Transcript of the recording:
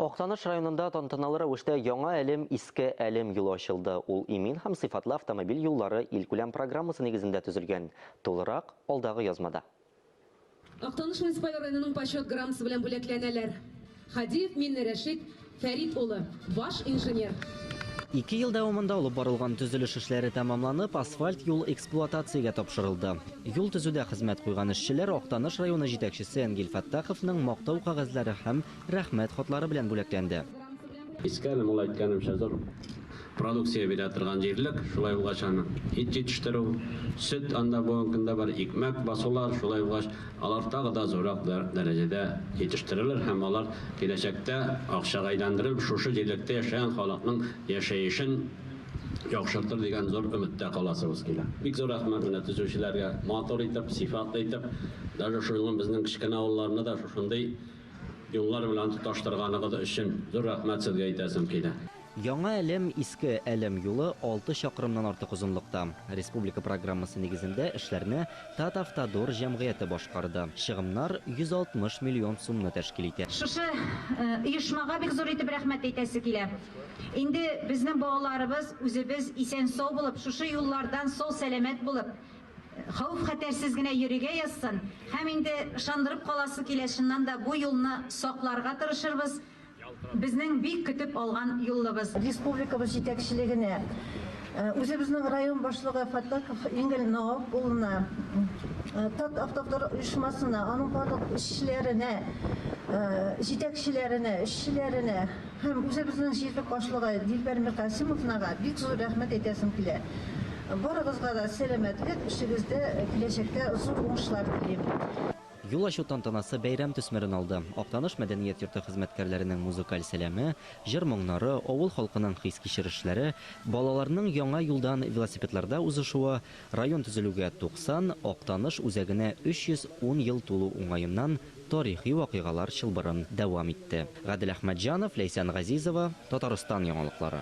Актаныш районында тантаналы рәвештә Яңа Әлем, Иске Әлем юлы ачылды. Ул имин һәм сыйфатлы автомобиль юллары илкүләм программасы нигезендә төзелгән. Тулырак, алдагы язмада. Актаныш муниципаль районының Почет грамотасы белән бүләкләнәләр. Хадиев Минне Рәшит Фәрит улы, баш инженер. Ике ел дәвамында алып барылган төзелеш эшләре тәмамланып, асфальт юл эксплуатациягә тапшырылды. Юл төзүдә хезмәт куйган эшчеләр Актаныш районы җитәкчесе Әнгил Фәттаховның мактау кәгазьләре һәм Рәхмәт хатлары белән бүләкләнде. Иске әле мул әйткәнемчә зур продукция бирә торган җирлек, шулай булгач аны ит җитештерү, сөт анда бүгенге көндә бар, икмәк басулар, шулай булгач алар тагы да зуррак дәрәҗәдә җитештерелер һәм алар киләчәктә акчага әйләндерелеп шушы җирлектә яшәгән халыкның яшәешен яхшыртыр дигән зур өметтә каласыбыз килә. Бик зур рәхмәт менә төзүчеләргә, матур итеп, сыйфатлы итеп, даже шуның безнең кечкенә авылларны да шушындый юллар белән тоташтырганыгыз өчен зур рәхмәт сезгә әйтәсем килә. Яңа Әлем, Иске Әлем юлы алты чакрымнан артык озынлыкта. Республика программасы нигезендә эшләрне Татавтодор җәмгыяте башкарды. Чыгымнар 160 миллион сумны тәшкил итә. Шушы оешмага бик зур итеп рәхмәт әйтәсе килә. Инде безнең балаларыбыз, үзебез исән-сау булып, шушы юллардан сау-сәламәт булып, хәвеф-хәтәрсез генә йөригә язсын. Һәм инде ышандырып каласы килә, чыннан да, бу юлны сакларга тырышырбыз, безнең бик көтеп алган юлыбыз. Республикабыз җитәкчелегенә, үзебезнең район башлыгы Фаттахов Ингел Наоп улына, Татавтодор оешмасына, аның барлык эшчеләренә, җитәкчеләренә, эшчеләренә, Һәм үзебезнең җирлек башлыгы Дилбәр Миркасимовнага бик зур рәхмәт әйтәсем килә. Барыгызга да сәламәтлек, эшегездә киләчәктә зур уңышлар телим. Юл ачу тантанасы бәйрәм төсмерен алды. Актаныш мәдәният йорты хезмәткәрләренең музыкаль сәламе, җыр-моңнары, авыл халкының хис-кичерешләре, балаларның яңа юлдан велосипедларда узышуы, район төзелүгә 90, Актаныш үзәгенә 310 ел тулу уңаеннан, Тарихи вакыйгалар чылбырын дәвам итте. Гадел Әхмәтҗанов, Ләйсән Газизова, Татарстан яңалыклары.